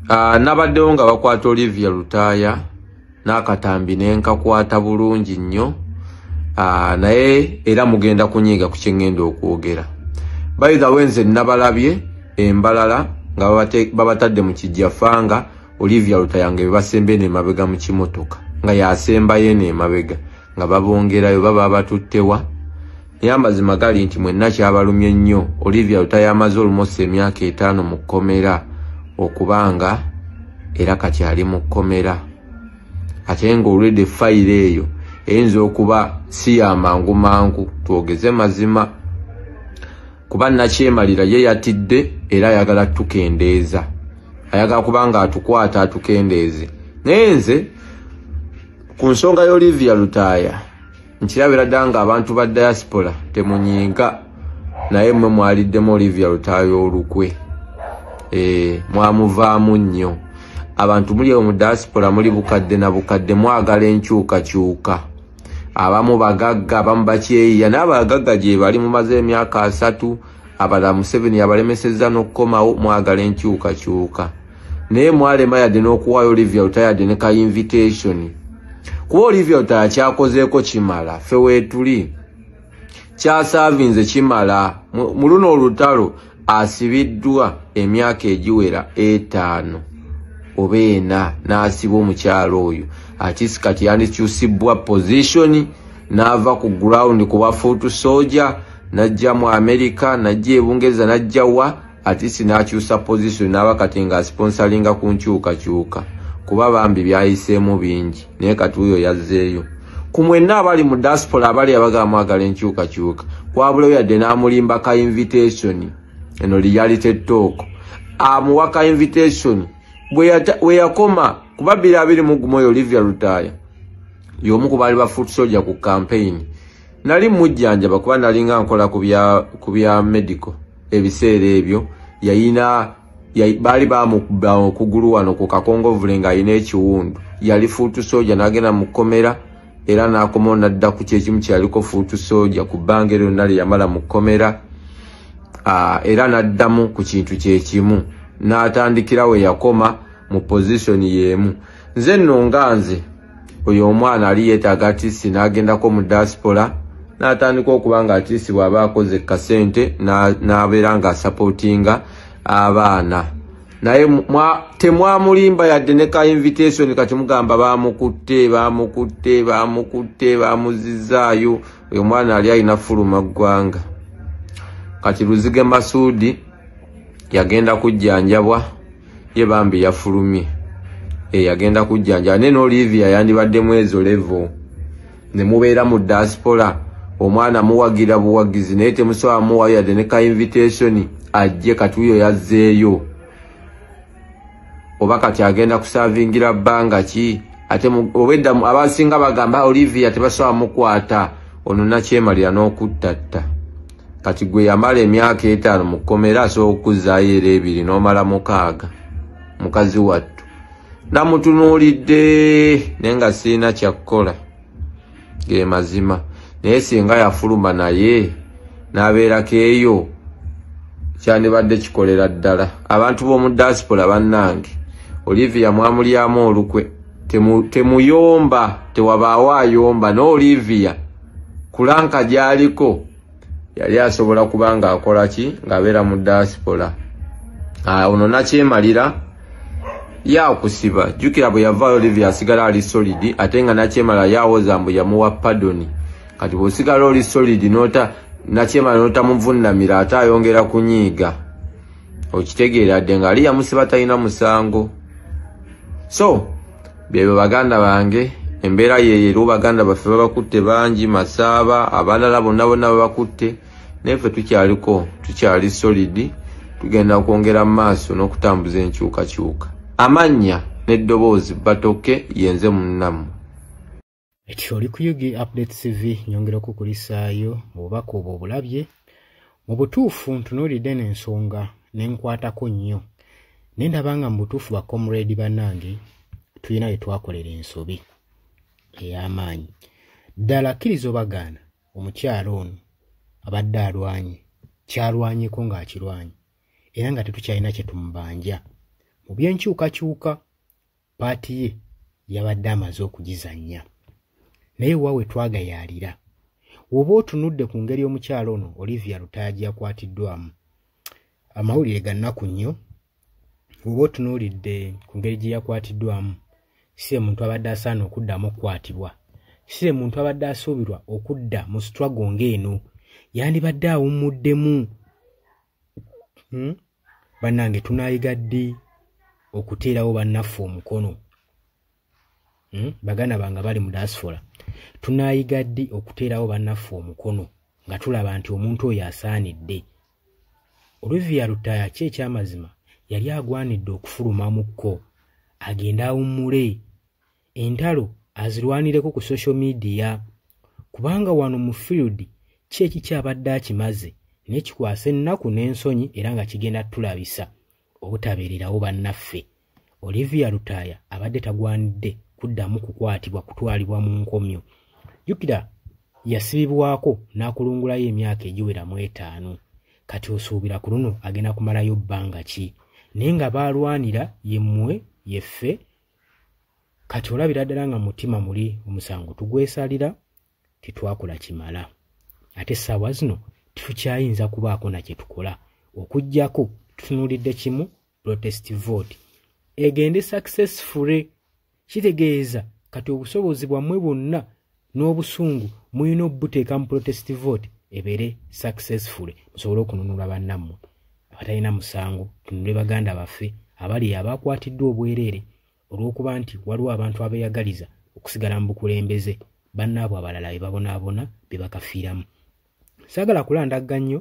Ah, nabaddewo nga bakwata olivia lutaaya n'akatambi ne nkakwata bulungi nnyo ah, naye era mugenda kunyiiga ku kyengenda okwogera bayithawe nze nabalabye embalala nga babatadde mu kijjafanga olivia lutaaya nga bebasembee nemabega mu kimotoka nga yasembayo eno emabega nga babongerayo baba batuttewa naye amazima gali nti mwenna kyabalumye nnyo olivia lutayo amaze olumosi emyaka etaano mu kkomera okubanga era kati ali mu kkomera ate nga olwedde fayiro eyo eyinza okuba si yamangu mangu twogeze mazima kuba nakyemalira ye yatidde era ayagala tukendeeza ayagala kuba nga atukwata atukendeeze naye nze ku nsonga y'olivia lutaaya nkirabira dda nga abantu ba diaspora temunyiiga naye mwe mwaliddemu olivia lutayo olukwe eh, mwamuvaamu nnyo abantu muli ewo mu diaspora muli bukadde na bukadde mwagala enkyukakyuka abamu bagagga abamu bakyeyiya n'abagagga gye bali mumaze emyaka asatu abala museveni yabalemesezza n'okukomawo mwagala enkyukakyuka naye mwalema yadde n'okuwaayo olivia lutayadde ne ka invitation kuba olivia lutaya kyakozeeko kimala fe weetuli kyasaavinze kimala mu luno olutalo asibiddwa emyaka egiwera etaano oba ena n'asiba omukyalo oyo atisi kati yandikyusibbwa pozisioni n'ava ku gurawundi kuba fuutu soja najja mu amerika najja ebungereza najja wa atisi n'akyusa pozisoni n'aba kati nga asiponsalinga ku nkyukakyuka kuba bambi byayiseemu bingi naye kati wuyo yazzeeyo ku mwenna abali mu diaspora abali abagala mwagala enkyukakyuka wabulayo yadde n'amulimba ka invitation eno reality talk amuwa ka invitation bwe yakoma kuba bbiri abiri mu gumu oyo olivia lutaaya y'omu ku baali ba foot soldier ku campaign nali mujjanjaba kuba nalinga nkola ku bya medical ebiseera ebyo yayina baali bamukuba okugulu wano ku kakongovule ng'alina ekiwundu yali fuutu sooja n'agenda mu kkomera era n'akomawo n'adda ku kyekimu kyeyaliko fuutu sooja ku bbanga eryo lyonna lye yamala mu kkomera era n'addamu ku kintu kyekimu n'atandikira we yakoma mu pozisoni y'emu nze nno nga nze oyo omwana ali yetaaga atisi n'agendako mu diaspora n'atandika okuba nga atisi bw'aba akoze kasente n'abeera nga asapootinga abaana naye temwamulimba yadde ne ka invitation kati mugamba bamukutte bamukutte bamukutte bamuzizaayo oyo omwana ali alina fuluma ggwanga kati luzige masuudi yagenda kujjanjabwa ye bambi yafulumye eyagenda eh, kujjanjaba naye n'olivia yandibaddemu ezo levo ne mubeera mu diaspora omwana muwagira buwagizi naye temusobola muwayo yadde ne ka invitation ajje kati uyo yazzeeyo oba kati agenda kusavingira bbanga ki ate obwedda abasinga bagamba olivia tebasobola mukwata ono nakyemalira n'okuttatta kati gwe yamala emyaka etaano mu kkomera asobola okukuzzaayo era ebiri n'omala mukaaga mukazi wattu namutunuulidde naye nga sirina kyakkola ge mazima naye singa yafuluma naye n'abeerako eyo kyandibadde kikolera ddala abantu b'omu diaspora bannange olivia mwamulyamu olukwe temuyomba tewabaawo ayomba n'olivia kulanka gyaliko yali asobola kuba nga akola ki ng'abeera mu diaspora ah, ono nakyemalira yakusiba jjukira bwe yavaayo olivia asigala ali solidi ate nga nakyemala yawoza mbu yamuwa padoni kati bw'osigala oli solidi nota nakyemala notamuvunnamira ate ayongera kunyiiga okitegeera dde ng'ali yamusiba talina musango so byebyo baganda bange embeera yeyo eriwo baganda baffe babakutte bangi masaaba abalala bonna bonna babakutte naye ffe tukyaliko tukyali solidi tugenda kwongera mu maaso n'okutambuza enkyukakyuka amannya n'eddoboozi batoke yenze munnamu eti oli ku ug update cv nyongera okukulisaayo mu bubaka obwo obulabye mu butuufu ntunuulidde n'ensonga ne nkwatako nnyo ne ndaba nga mu butuufu bakomredi bannange tulina we twakolera ensobi ey'amaanyi ddala akkiriza obagaana omukyalo ono abadde alwanye kyalwanyeko ng'akirwanye era nga tetukyalina kye tumubanja mu by'enkyukakyuka paati ye yabadde amaze okugizannya naye wa we twagayaalira woba otunudde ku ngeri omukyalo ono olivia lutaagi yakwatiddwamu amawulire gannaku nnyo woba otunuulidde ku ngeri gye yakwatiddwamu si emuntu abadde asaana okuddamu okukwatibwa si emuntu abadde asuubirwa okudda mu struggle ng'eno yandibadde awummuddemu hmm? bannange tunayiga ddi okuteerawo bannaffe omukono hmm? baganda bange bali mu dasfola tunayiga ddi okuteerawo bannaffe omukono nga tulaba nti omuntu oyo asaanidde olivia lutaya ki ekyamazima yali agwanidde okufulumamukko agende awummule entalo azirwanireko ku social media kubanga wano mu field ki ekikyabadde akimaze naye kikwasa ennaku n'ensonyi era nga kigenda tulabisa obutabeererawo bannaffe olivia lutaaya abadde tagwanidde kuddamu kukwatibwa kutwalibwa mu nkomyo jukira yasibibwako n'akulungulayo emyaka egiwera mu etaano kati osuubira ku luno agenda kumalayo bbanga ki naye nga baalwanira yemmwe yeffe kati olabira ddala nga mutima muli omusango tugwesalira tetwakula kimala ate essaawa zino tetukyayinza kubaako na kye tukola okugyako tutunuulidde kimu protest vote egende successfully kitegeeza kati obusobozi bwammwe bwonna n'obusungu mulina obuteeka mu protest vote ebeere successful musobole okununula bannammwe abatalina musango tunule baganda baffe abali abakwatiddwa obwereere olw'okuba nti waliwo abantu abeeyagaliza okusigala mu bukulembeze bannaabwe abalala be babonaabona be bakafiiramu saagala kulandagga nnyo